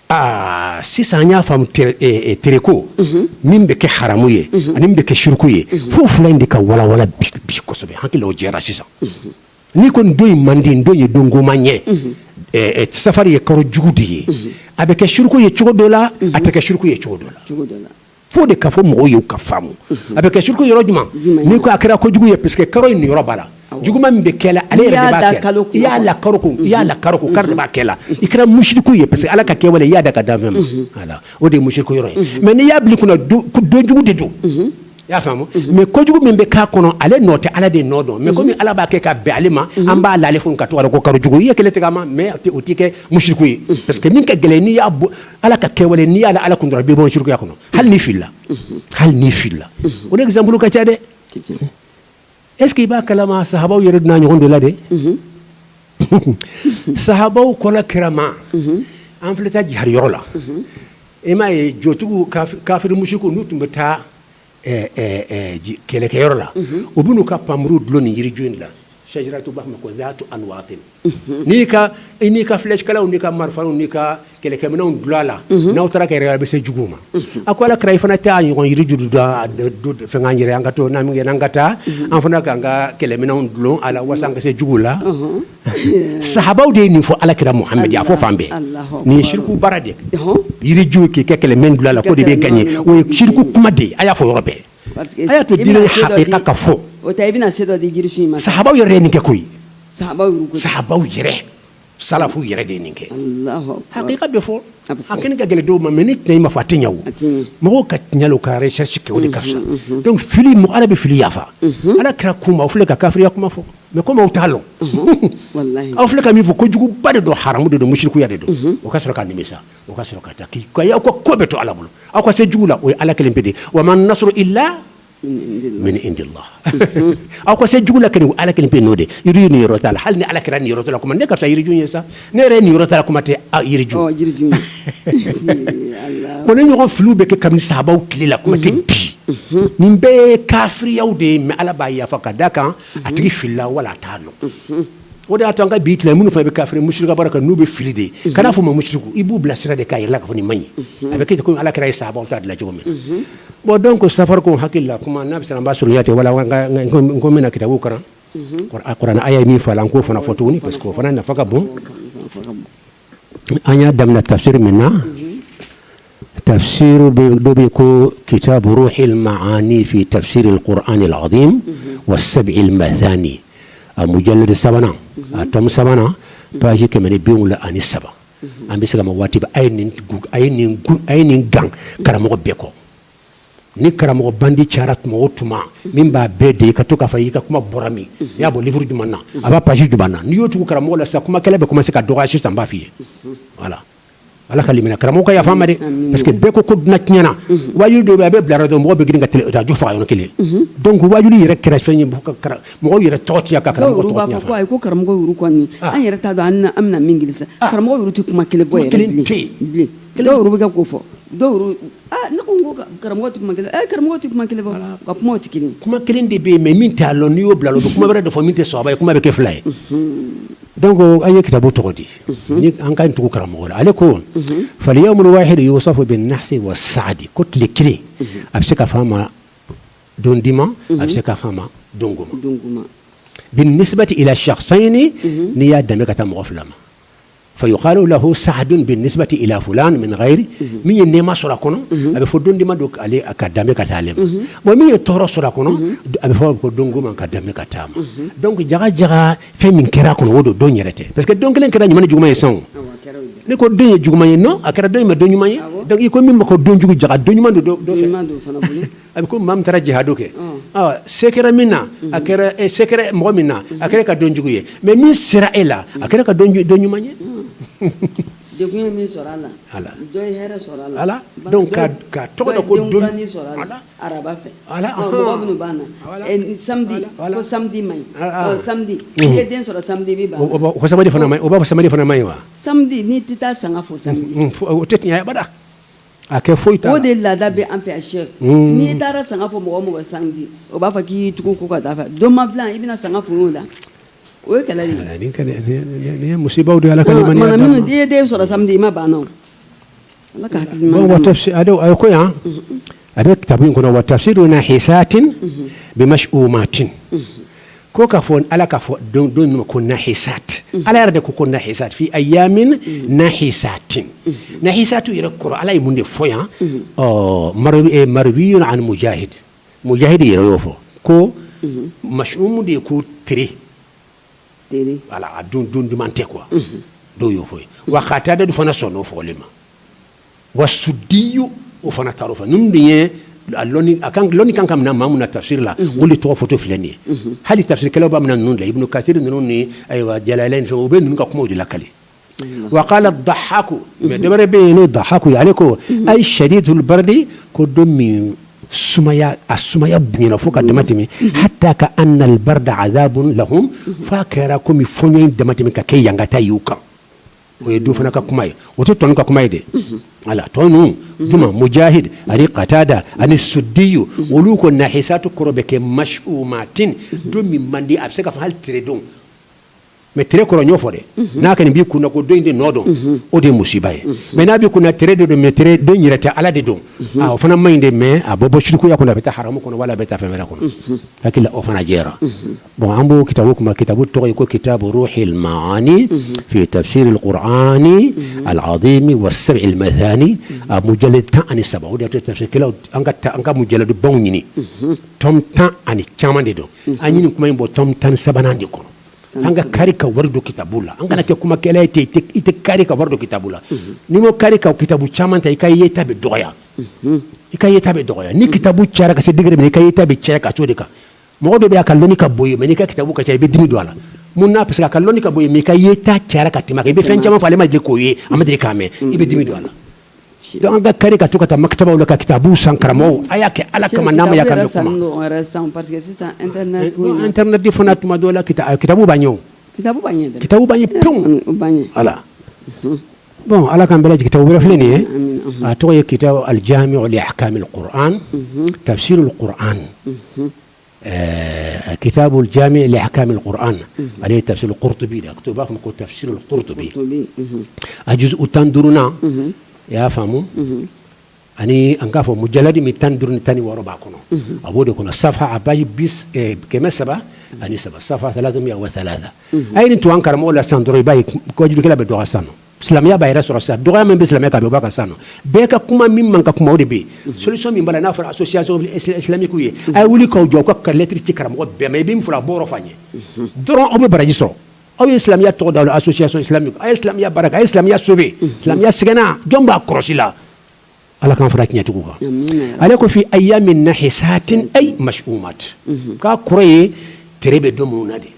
A: Aa sisan an y'a faamu tereko min bɛ kɛ haramu ye ani min bɛ kɛ siriku ye fo fila in de ka walawala bi kosɛbɛ hakiliw jɛra sisan n'i ko don in man di don ye don goman ye safari ye kalo jugu de ye a bɛ kɛ siriku ye cogo dɔ la a tɛ kɛ siriku ye cogo dɔ la fo de ka fɔ mɔgɔw ye ka faamu a bɛ kɛ siriku ye yɔrɔ jumɛn n'i ko a kɛra ko jugu ye parce que kalo in yɛrɛ b'a la juguman min bɛ kɛ a la ale yɛrɛ b'a kɛ la i y'a la kalo kun kalo de b'a kɛ la i kɛra musiriku ye parce que ala ka kɛwale i y'a da a ka danfɛn ma o de ye musiriku ye mais n'i y'a bila kunna donjugu de don i y'a faamu mais kojugu min bɛ k'a kɔnɔ ale nɔ tɛ ala de nɔ don mais comme ala b'a kɛ ka bɛn ale ma an b'a la ale kun k'a tɔgɔ ko kalo jugu i ye nkalon tigɛ a ma mais o tɛ kɛ musiriku ye parce que min ka gɛlɛn n'i y'a ala ka kɛwale n'i y'a la ala kun dɔrɔn i bɛ bɔ sirikuya kɔnɔ hali n'i filila hali n'i filila o de exemple ka ca dɛ est-ce que i b'a kalama sahabaw yɛrɛ donna a ɲɔgɔn dɔ la dɛ sahabaw ko ala kira ma an filɛ taa jihadi yɔrɔ la e m'a ye jotigiw kafiri musirikuw n'u tun bɛ taa kɛlɛkɛyɔrɔ la u bɛ n'u ka npanmuru dulon nin yiriju in la shajaratu u b'a fɔ a ma ko zatu anwatin n'i i n'i ka flèche kalaw n'i ka marifa n'i ka kɛlɛkɛminɛnw dulon a la n'aw taara kɛlɛ a bɛ se jugu ma a ko ala kira i fana t'a ɲɔgɔn jiriju dɔ fɛn yɛrɛ an ka to n' kɛ an ka taa an fana k'an ka kɛlɛminɛnw dulon a la walasa an ka se jugu la sahabaw de ye nin fɔ ala kira muhamadi y'a fɔ fan bɛɛ nin ye siriku baara dɛ yiriju k'i ka kɛlɛminɛn dulon a la k'o de bɛ gagner o ye siriku kuma dɛ a y'a fɔ yɔrɔ bɛɛ a y'a to hakika ka fɔ
B: sahabaw yɛrɛ ye nin kɛ koyi sahabaw
A: yɛrɛ salafu yɛrɛ de ye nin kɛ hakika
B: bɛ
A: fɔ a kɛnɛ ka gɛlɛn dɔw ma mais ni détail ma fɔ a tɛ ɲɛ mɔgɔw ka tiɲɛ lɔn ka recherche kɛ o de ka fisa donc fili mɔgɔ ala bɛ fili yafa ala kira ko u ma aw filɛ ka kafiriya kuma fɔ mais comme u
B: t'a dɔn aw fili ka min fɔ
A: ko kojuguba de don haramu de don mushrikuya de don o ka sɔrɔ ka nimisa o ka sɔrɔ ka taa k'i aw ka ko bɛɛ to ala bolo aw ka se jugu la o ye ala kelen pe de wa man nasru illa min indillah aw ka se jugu la kelen ala kelen pe n'o de i ye nin yɔrɔ ta la hali ni ala kira nin yɔrɔ la kuma ne ka taa yiriju ye sa ne yɛrɛ nin yɔrɔ ta kuma tɛ aw
B: yiriju ko nin ɲɔgɔn
A: filiw bɛ kɛ kami sahabaw tile la kuma tɛ bi nin bɛɛ ye kafiriyaw de ye mais ala b'a yafa ka da kan a tigi filila wala a t'a dɔn o de y'a to an ka bi tile minnu fana bɛ kafiri mushriku baara kan n'u bɛ fili de ye kana fɔ ma mushriku i b'u bilasira de k'a yira u la ka fɔ nin man ɲi a bɛ kɛ ko ala kira ye sahabaw ta dilan cogo min bon donc safari ko hakili la kuma n'a bɛ se an b'a sɔrɔ yatɛ wala ko min na kitabu kalan kurana a ye min fɔ a la n k'o fana fɔ tuguni parce que o fana nafa ka bon an y'a daminɛ tafsiri min na tafsiri dɔ bɛ ko kitabu ruhul ma'ani fi tafsiril qur'anil azim was sab'il mathani a mujallad sabanan a tome sabanan page kɛmɛ ni biwolonwula ani saba an bɛ se ka ma waati a ye nin gan karamɔgɔ bɛɛ kɔ ni karamɔgɔ bandi cara tuma o tuma min b'a bɛɛ de ka to k'a fɔ i ka kuma bɔra min y'a bɔ livre jumɛn na a b'a page jumɛn na n'i y'o tugu karamɔgɔ la sa kuma kɛlɛ bɛ commencer ka dɔgɔya tan b'a fɔ voilà ala ka lam karamɔgɔ ka yafa ma parce que bɛɛ ko ko dunan tiɲɛna waju don a bɛ bila dɔn mɔgɔ bɛ girin ka jo faga yɔrɔ kelen donc waju yɛrɛ kɛra fɛn ye mɔgɔ yɛrɛ tɔgɔ ci ka karamɔgɔ don
B: an yɛrɛ ta don an bɛna min karamɔgɔ tɛ kuma kelen bɔ kelen kelen bɛ ko fɔ Ne ko ko karamɔgɔ tɛ kuma kelen e karamɔgɔ tɛ kuma kelen ka kuma tɛ kelen kuma kelen de bɛ yen mais
A: min t'a dɔn n'i y'o bila don kuma wɛrɛ de fɔ min tɛ sɔbɛ ye kuma bɛ kɛ fila ye donc an ye kitabu tɔgɔ di an k'an tugu karamɔgɔ la ale ko fal yawmul wahidu yusafu bin nahsi was sa'di ko tile kelen a bɛ se ka fɔ a ma don dima a bɛ se ka fɔ a ma don goma bin nisbati ila shakhsayni n'i y'a danbe ka taa mɔgɔ fila ma fa yuqalu lahu sa'dun bin nisbati ila fulan min ghairi min ye nɛɛma sɔrɔ a kɔnɔ a bɛ fɔ don dima don ale ka danbe ka taa ale ma bon min ye tɔɔrɔ sɔrɔ a kɔnɔ a bɛ fɔ ko don goma ka danbe ka taa a ma donc jaga jaga fɛn min kɛra a kɔnɔ o don don yɛrɛ tɛ parce que don kelen kɛra ɲuman ni juguman ye sanko ne ko don ye juguman ye non a kɛra dɔ ma don ɲuman ye donc i ko min ma ko don jugu jaga don ɲuman don dɔ fɛ A bɛ ko maa taara jihadu kɛ se kɛra min na a se kɛra mɔgɔ min na a kɛra ka don jugu ye mais min sera e la a kɛra ka don
B: ɲuman
A: ye
B: samedi
A: o samedi fana man ɲi wa
B: tɛ taa san
A: A kɛ foyi o de laada bɛ an
B: fɛ yan c'est n'i taara sanga fo mɔgɔ o mɔgɔ samedi o b'a fɔ k'i tugu ko ka taa fɛ don ma i bɛna sanga fo mun na o ye kɛlɛ musibaw don
A: ala n'i ye den
B: sɔrɔ samedi i ma ban o la a
A: ko yan a bɛ kitabu in kɔnɔ wa tafsiru nahisatin bi mas'umatin ko ka fɔ ala ka fɔ don ninnu ma ko nahisati ala yɛrɛ de ko ko nahisati fi ayamin nahisatin nahisatu yɛrɛ kɔrɔ ala ye mun de fɔ yan marwiyun an mujahid mujahid yɛrɛ y'o fɔ ko mas'umu de ye ko tere voilà a don duman tɛ quoi dɔw y'o fɔ wa katada du fana sɔnn'o fɔlen ma wa sudiyu o fana taar'o fɛ ninnu dun ye a lɔnni a kan lɔnni kan ka minɛ maa minnu na tafsiri la olu de tɔgɔ fɔtɔ filɛ nin ye hali tafsirikɛlaw b'a minɛ ninnu de la Ibunu Kasiri ninnu ni ayiwa Jalalayini ni fɛnw u bɛ ninnu ka kumaw de lakali wa qala dahaku mais dɔ wɛrɛ bɛ yen n'o dahaku ye ale ko ayi shadidul bardi ko don min sumaya a sumaya bonyana fo ka dama tɛmɛ hatta ka annal barda azabun lahum f'a kɛra komi fɔɲɔ in dama tɛmɛ ka kɛ ɲankata y'u kan o ye du fana ka kuma ye o tɛ tɔ ninnu ka kuma ye dɛ wala tɔ ninnu juma mujahid ani katada ani sudiyu olu ko nahisatu kɔrɔ bɛ kɛ mas'umatin don min man di a bɛ se ka fɔ hali tere don mais tere kɔrɔ n y'o fɔ dɛ n'a kɔni b'i kun na ko don in de nɔ don o de ye musiba ye mais n'a b'i kun na tere de don mais tere don yɛrɛ tɛ ala de don o fana man ɲi dɛ mais a bɛ bɔ shirikuya kɔnɔ a bɛ taa haramu kɔnɔ wala a bɛ taa fɛn wɛrɛ kɔnɔ hakili o fana jɛra Bon an b'o kitabu kuma kitabu tɔgɔ ye ko kitabu ruhil maani fi tafsiril qur'ani al azimi wa sab'il masani a mujaladi tan ani saba o tɛ tafsirikɛlaw kelen an ka taa an ka mujaladubaw ɲini tome tan ani caman de don an ye nin kuma in bɔ tome tan ni sabanan de kɔnɔ an ka kari ka wari don kitabu la an kana kɛ kumakɛla ye i tɛ kari ka wari don kitabu la n'i ma kari ka kitabu caman ta i ka yeta bɛ dɔgɔya i ka yeta bɛ dɔgɔya ni kitabu cayara ka se degré min i ka yeta bɛ caya ka t'o de kan mɔgɔ dɔ bɛ a ka lɔnni ka bon i ye mais n'i ka kitabu ka ca i bɛ dimi don a la mun na parce que a ka lɔnni ka bon i ye mais i ka yeta cayara ka tɛmɛ a kan i bɛ fɛn caman fɔ ale ma deli k'o ye a ma deli k'a mɛn i bɛ dimi don a la donc an ka kari ka to ka taa makitabaw la ka kitabuw san karamɔgɔw a y'a kɛ ala kama n'a ma y'a ka mɛn
B: kuma internet
A: fana tuma dɔw la kitabu b'a ɲɛ o kitabu b'a ɲɛ pewu ala Bon ala ka bɛ jigin wɛrɛfi nin ye a tɔgɔ ye kita alimi o a ka ta an ɛɛ kita jami a ka an ale ye tafisiri tobi la to b'a fɔ ko tafisiri tobi a dusu u tan duuruurununa i y'a faamumu ani an k'a fɔ mujaladi min tan duuru tan ni wɔɔrɔ b'a kɔnɔ a b'o de kɔnɔ safha a page kɛmɛ saba ani saba safha a ye nin to an karamɔgɔ la san dɔrɔn i b'a ye kojugukɛla bɛ dɔgɔ sa silamɛya b'a yɛrɛ sɔrɔ sa dɔgɔya min bɛ silamɛya kan b'a kan sa bɛɛ ka kuma min man kan kuma de bɛ yen solution min b'a la n'a fɔra association islamique ye a ye wuli k'aw jɔ ka lɛtiri ci karamɔgɔ bɛɛ ma i bɛ fɔ a bɔ fa ye dɔrɔn aw bɛ baraji sɔrɔ aw ye silamɛya tɔgɔ d'aw la association islamique a ye silamɛya baara kɛ a ye silamɛya sove silamɛya sɛgɛnna jɔn b'a kɔlɔsi la ala k'an fara tiɲɛtigiw kan ale ko fi ayyamin nahisatin ay mash'umat k'a kɔrɔ ye tere bɛ don minnu na
B: de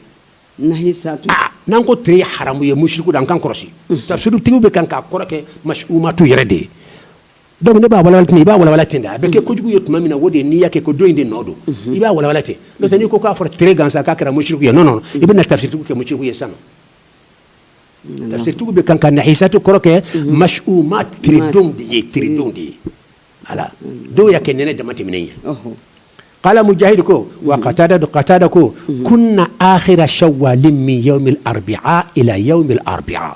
B: n'an ko tere
A: haramu ye mushiriku an k'an kɔlɔsi tafsirutigiw bɛ kan k'a kɔrɔ kɛ mash'umat yɛrɛ de ye Dɔnku ne b'a walawala ten i b'a walawala ten a bɛ kɛ kojugu ye tuma min na o de n'i'a kɛ ko don in de nɔ don i b'a walawala ten n'i ko k'a fɔra tere gansan k'a kɛra mushiriku ye non non i bɛna tafsirutigiw kɛ mushiriku ye sa tafsirutigiw bɛ kan ka nahisatu kɔrɔ kɛ mash'umat de ye tere donw de ye ala dɔw y'a kɛ nɛnɛ damatɛmɛnen ye qala mujahid ko wa qatada don qatada ko kunna akhira shawwal min yawm al-arbi'a ila yawm al-arbi'a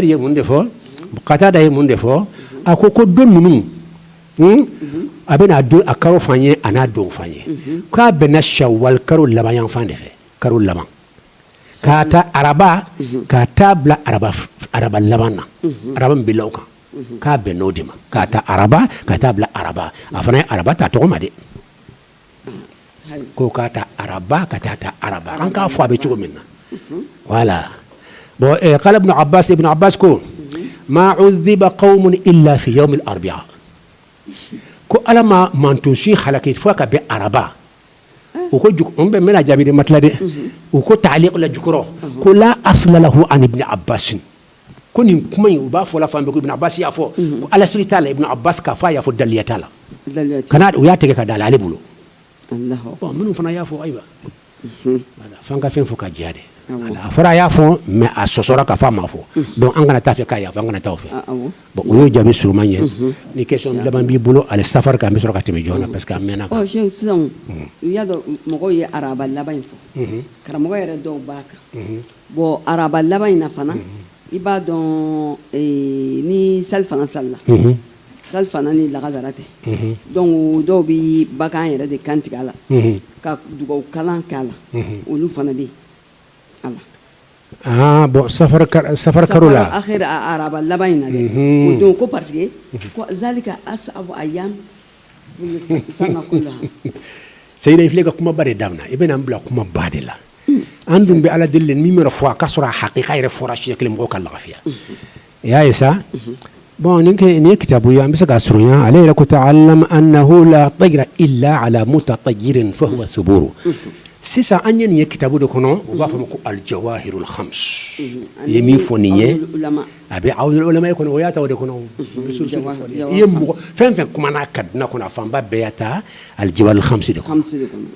A: ye mun de fɔ qatada ye mun de fɔ a ko ko don ninnu hmm, a bɛnna a don a karo fan ye a n'a don fan ye k'a bɛnna shawali karo laban yanfan de fɛ karo laban k'a ta araba ka taa bila araba laban na araba min bila kan k'a bɛn n'o de ma k'a ta araba ka taa bila araba a fana ye araba ta tɔgɔ ma dɛ ko k'a ta araba ka taa ta araba an k'a fɔ a bɛ cogo min na voilà bon eh, qala ibn abbas ibn abbas ko ma udhiba qaumun illa fi yawm al-arbi'a ko ala ma manton si halaki fo ka bɛn araba u ko n bɛ mɛna jaabi de matila dɛ u ko taaliki la jukɔrɔ ko la asla lahu an ibn abbas ko nin kuma in u b'a fɔ la fan bɛɛ ko Ibn Abbas y'a fɔ ko a lasiri t'a la Ibn Abbas k'a fɔ a y'a fɔ dalilu t'a la kana u y'a tigɛ ka da la ale bolo bon minnu fana y'a fɔ ayiwa f'an ka fɛn fɔ ka jɛya dɛ a fɔra a y'a fɔ mais a sɔsɔra ka fɔ a ma fɔ donc an kana taa fɛ k'a y'a fɔ an kana taa o fɛ bon o y'o jaabi surunman ye ni question laban b'i bolo ale safari kan an bɛ sɔrɔ ka tɛmɛ joona parce que an mɛnna a kan sisan
B: i y'a dɔn mɔgɔw ye araba laban in fɔ karamɔgɔ yɛrɛ dɔw b'a kan Bon araba laban in fana i b'a dɔn ni salifana salila salifana ni lagansara tɛ dɔnku dɔw bɛ bagan yɛrɛ de kantigɛ a la ka dugawu kalan kɛ a la olu fana bɛ
A: yen bon safari karo la a
B: araba laban in na dɛ don ko parce que zalika ayyam seyida
A: i filɛ ka kumaba de daminɛ i bɛna bila kumaba de la an dun bɛ ala deli min mana fɔ a ka sɔrɔ a hakika yɛrɛ fɔra siɲɛ kelen mɔgɔw ka lafiya i y'a ye sa bon nin nin ye kitabu ye an bɛ se ka surunya ale yɛrɛ ko ta'allam annahu la tayra illa ala mutatayyirin fa huwa thuburu sisan an ye nin ye kitabu de kɔnɔ u b'a fɔ ma ko aljawahirul khams i ye min fɔ nin ye a bɛ awlul ulama kɔnɔ o y'a ta o de kɔnɔ i ye mɔgɔ fɛn fɛn kumana a kan diɲɛ kɔnɔ a fanba bɛɛ y'a ta aljawahirul khams de kɔnɔ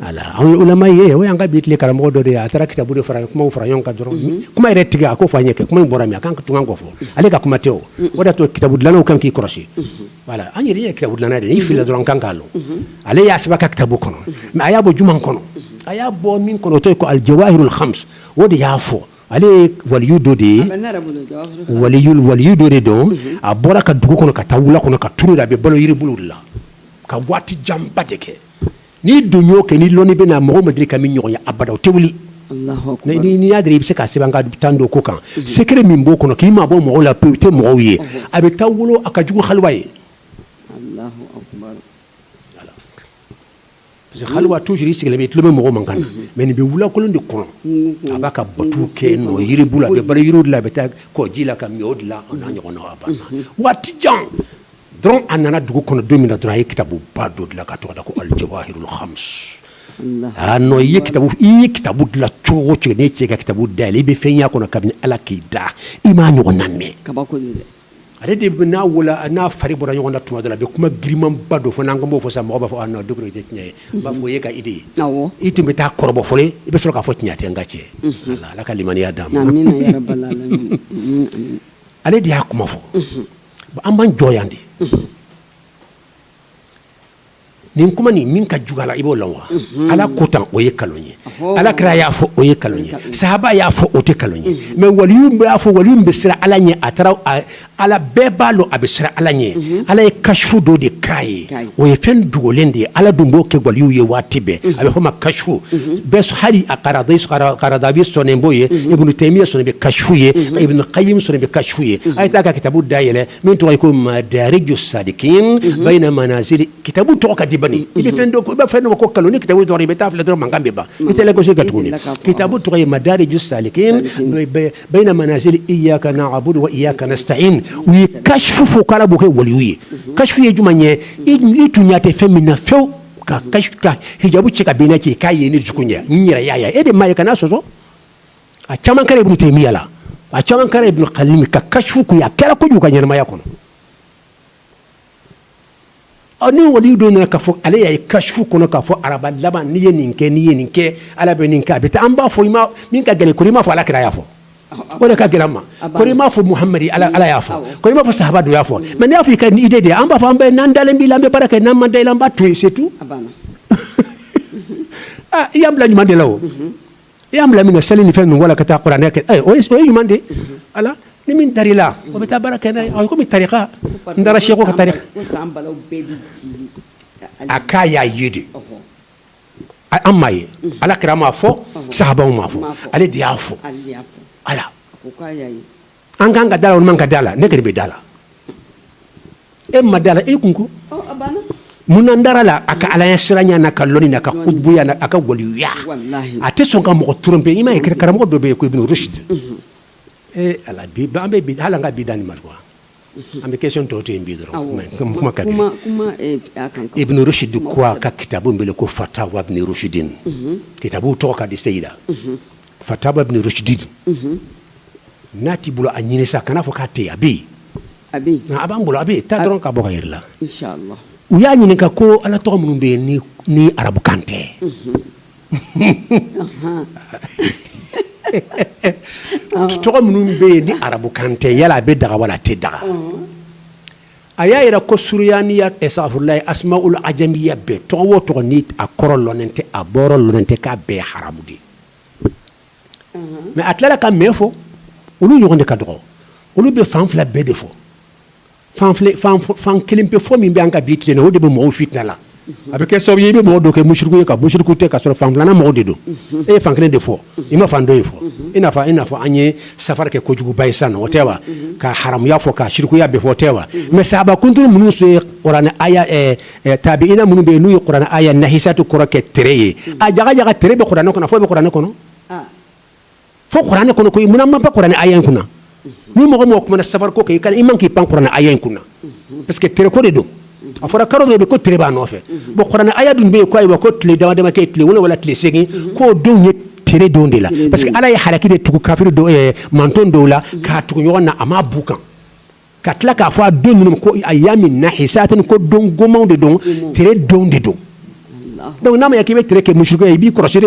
A: ala awlul ulama ye o y'an ka bi tile karamɔgɔ dɔ de ye a taara kitabu de fara kumaw fara ɲɔgɔn kan dɔrɔn kuma yɛrɛ tigɛ a ko fa ɲɛ kɛ kuma bɔra min a kan ka tun kan k'o fɔ ale ka kuma tɛ o o de y'a to kitabu dilannaw kan k'i kɔlɔsi voilà an yɛrɛ ye kitabu dilanna de ye n'i filila dɔrɔn kan k'a dɔn ale y'a sɛbɛn ka kitabu kɔnɔ mais a y'a bɔ jumɛn kɔnɔ a y'a bɔ min kɔnɔ o tɔgɔ ye ko aljawahirul khams o de y'a fɔ Ale ye waliyu dɔ de ye waliyu dɔ de don a bɔra ka dugu kɔnɔ ka taa wula kɔnɔ ka turu de a bɛ balo yiribulu de la ka waati janba de kɛ n'i dun y'o kɛ ni lɔnni bɛ na mɔgɔ ma deli ka min ɲɔgɔn ye abada o tɛ wuli n'i y'a dɔn i bɛ se k'a sɛbɛn ka tan don ko kan secret min b'o kɔnɔ k'i mabɔ mɔgɔw la pewu tɛ mɔgɔw ye a bɛ taa wula a ka jugu haliwa ye Parce que haliwa toujours i sigilen bɛ i tulo bɛ mɔgɔ mankan na mais nin bɛ wulakolon de kɔnɔ a b'a ka batu kɛ n yiribulu a bɛ balo yiriw de la a bɛ taa kɔji la ka min o de la o n'a ɲɔgɔnna a banna waati jan dɔrɔn a nana dugu kɔnɔ don min na dɔrɔn a ye kitabuba dɔ dilan ka tɔgɔ da ko aljawahirul khams aa non i ye ki i ye kitabu dilan cogo o cogo n'e cɛ ka kitabu dayɛlɛ i bɛ fɛn y'a kɔnɔ kabini ala k'i da i m'a ɲɔgɔnna mɛn ale de bɛ n'a wolo n'a fari bɔra ɲɔgɔn na tuma dɔ la a bɛ kuma girinmanba dɔ fɔ n'an ko an b'o fɔ sa mɔgɔw b'a fɔ a non Dukure o tɛ tiɲɛ ye n b'a fɔ o y'e ka idée ye, awɔ, i tun bɛ taa kɔrɔbɔ fɔlɔ i bɛ sɔrɔ k'a fɔ tiɲɛ tɛ n ka cɛ, unhun, Ala Ala ka limaniya d'an ma, amina yarabali alamina, amin amin, ale de y'a kuma fɔ, unhun, bon an b'an jɔ yan de, unhun nin kuma nin min ka jugu a la i b'o lɔn wa ala ko tan o ye nkalon ye ala kira y'a fɔ o ye nkalon ye sahaba y'a fɔ o tɛ nkalon ye mais waliyu y'a fɔ waliyu bɛ siran ala ɲɛ a taara ala bɛɛ b'a dɔn a bɛ siran ala ɲɛ ala ye kasifu dɔ de k'a ye o ye fɛn dogolen de ye ala dun b'o kɛ waliw ye waati bɛɛ a bɛ fɔ ma kasifu bɛɛ hali alkaradawi sɔnnen b'o ye ibnu taymiya sɔnnen bɛ kasifu ye ibnu qayyim sɔnnen bɛ kasifu ye a ye taa ka kitabu dayɛlɛ min tɔgɔ ye ko madariju salikin bayina manazili kitabu tɔgɔ ka di bani i bɛ fɛn i b'a fɛn dɔ ko nkalon ni kitabu dɔrɔn i bɛ taa filɛ dɔrɔn mankan bɛ ban i tɛ lagosi kɛ tuguni kitabu tɔgɔ ye madariju salikin bayina manazili iyaka na'budu wa iyaka nasta'in u ye kasifu fɔ k'Ala b'o kɛ waliyu ye kasifu ye jumɛn ye i tun ɲɛ tɛ fɛn min na fewu ka ka hijabu cɛ ka bɔ i n'a cɛ k'a ye ni dusukun ɲɛ n yɛrɛ y'a ye e de m'a ye kan'a sɔsɔ a caman kɛra ibnu taymiya la a caman kɛra ibnu qayyim ka kashfu kun a kɛra kojugu ka ɲɛnamaya kɔnɔ ɔ ni wali dɔ nana k'a fɔ ale y'a ye kashfu kɔnɔ k'a fɔ araba laban n'i ye nin kɛ n'i ye nin kɛ ala bɛ nin kɛ a bɛ taa an b'a fɔ i ma min ka gɛlɛn kori i m'a fɔ ala kira y'a fɔ o de ka gɛlɛn an ma kori i m'a fɔ muhamadi ala ala y'a fɔ kori i m'a fɔ sahaba dɔ y'a fɔ mais n'i y'a fɔ i ka nin idée de an b'a fɔ an bɛ n'an dalen b'i la an bɛ baara kɛ n'an ma da i la an b'a to yen c'est tout i y'an bila ɲuman de la o i y'an bila min na seli ni fɛn ninnu wala ka taa kuranɛ kɛ eh, o ye ɲuman de ala ni min dar'i la o bɛ taa baara kɛ n'a ye a ye komi tarika n taara seku ka tarika a k'a y'a ye de an m'a ye ala kira m'a fɔ sahabaw m'a fɔ ale de y'a fɔ ala an ka kan ka d'a la o man kan ka d'a la ne de bɛ d'a la e ma d'a la e kun ko munna n dara a la a ka ala ɲɛsiranɲɛ n'a ka lɔnni n'a ka kutubuya n'a ka waliya a tɛ sɔn ka mɔgɔ tromper i m'a ye kira karamɔgɔ dɔ bɛ yen ko ibnu rushdi ee ala bi an bɛ bi hali an ka bi da nin ma quoi an bɛ question tɔw to yen bi dɔrɔn kuma ka ibnu rushdu ko a ka kitabu bɛ ko fatawa ibnu rushdin kitabu tɔgɔ ka di seyi la fatawa ibnu rushdin N'a t'i bolo a ɲini sa kan'a fɔ k'a tɛ yen a bɛ yen a bɛ a b'an bolo a bɛ taa dɔrɔn ka bɔ k'a yira i la u y'a ɲininka ko ala tɔgɔ minnu bɛ yen ni arabukan tɛ tɔgɔ minnu bɛ yen ni arabukan tɛ yala a bɛ daga wala a tɛ daga a y'a yira ko suriyaniya safurulayi asmaul ajamiya bɛɛ tɔgɔ o tɔgɔ ni a kɔrɔ lɔnnen tɛ a bɔyɔrɔ lɔnnen tɛ k'a bɛɛ haramu de mais a tilala ka mais fɔ olu ɲɔgɔn de ka dɔgɔ olu bɛ fan fila bɛɛ de fɔ fan kelen pe fɔ min bɛ an ka bi tile la o de bɛ mɔgɔw fili a bɛ kɛ sababu ye i bɛ mɔgɔ dɔ kɛ musiriku ye ka musiriku tɛ ka sɔrɔ fan filanan mɔgɔw de don e ye fan kelen de fɔ i ma fan dɔ in fɔ i i n'a fɔ an ye safari kɛ kojuguba ye sisan o tɛ wa k'a haramuya fɔ k'a sirikuya bɛɛ fɔ o tɛ wa mais sahaba kunturu minnu ye kuranɛ Eh, tabiina minnu bɛ yen n'u ye kuranɛ aya nahisatu kɔrɔ kɛ tere ye hmm. a jaga jaga tere bɛ kuranɛ kɔnɔ fo bɛ kuranɛ kɔnɔ ah. fo kuranɛ kɔnɔ koyi munna man ba kuranɛ aya in kunna hmm. ni mɔgɔ mɔgɔ kumana safari ko kan i man kan k'i pan kuranɛ aya in kunna hmm. parce que tere ko de don a fɔra karo dɔ bɛ ko tere b'a nɔfɛ bon kuranɛ aya dun bɛ yen ko ayiwa ko tile dama dama kɛ tile wolonwula wala tile seegin k'o donw ye tere don de la parce que ala ye halaki de tugu kafiri dɔw ye eh, manton dɔw la k'a tugu ɲɔgɔn na a m'a bɔ u kan ka tila k'a fɔ a don ninnu ko ayamin nahisatin ko don gomanw de don tere don de don donc n'a ma ɲɛ k'i bɛ tere kɛ musiriku ye i b'i kɔlɔsi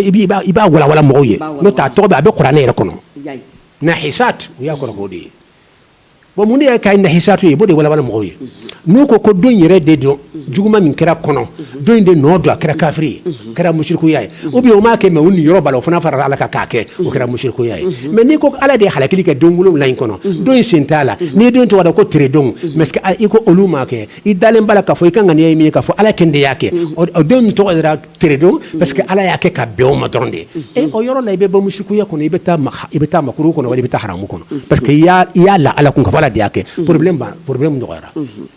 A: i b'a walawala mɔgɔw ye n'o tɛ a tɔgɔ bɛ a bɛ kuranɛ yɛrɛ kɔnɔ nahisat u y'a kɔrɔ k'o de ye bon mun de y'a kɛ nahisatu ye i b'o de walawala mɔgɔw ye n'u ko ko don yɛrɛ de don juguman min kɛra kɔnɔ don in de nɔ don a kɛra kafiri ye kɛra musirikuya ye ou bien o m'a kɛ mais o niyɔrɔ b'a la o fana farala Ala kan k'a kɛ o kɛra musirikuya ye mais n'i ko Ala de ye halakili kɛ don wolonwula in kɔnɔ don in sen t'a la n'i ye don in tɔgɔ da ko teredon mais est ce que a i ko olu m'a kɛ i dalen b'a la k'a fɔ i ka ŋaniya ye min ye k'a fɔ Ala kelen de y'a kɛ o don in tɔgɔ dara teredon parce que Ala y'a kɛ ka bɛn o ma dɔrɔn de e o yɔrɔ la i bɛ bɔ musirikuya kɔnɔ i bɛ taa i bɛ taa makruhu kɔnɔ wali i bɛ taa haramu kɔnɔ parce que i y'a i y'a la Ala kun k'a fɔ Ala de y'a kɛ problème ban problème nɔgɔyara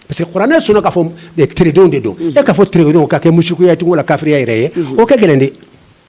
A: Parce que kuranɛ sɔnna k'a fɔ teredon de don, unhun, e k'a fɔ teredon k'a kɛ musirikuya ye tugun wala kafiriya yɛrɛ ye, unhun, o ka gɛlɛn dɛ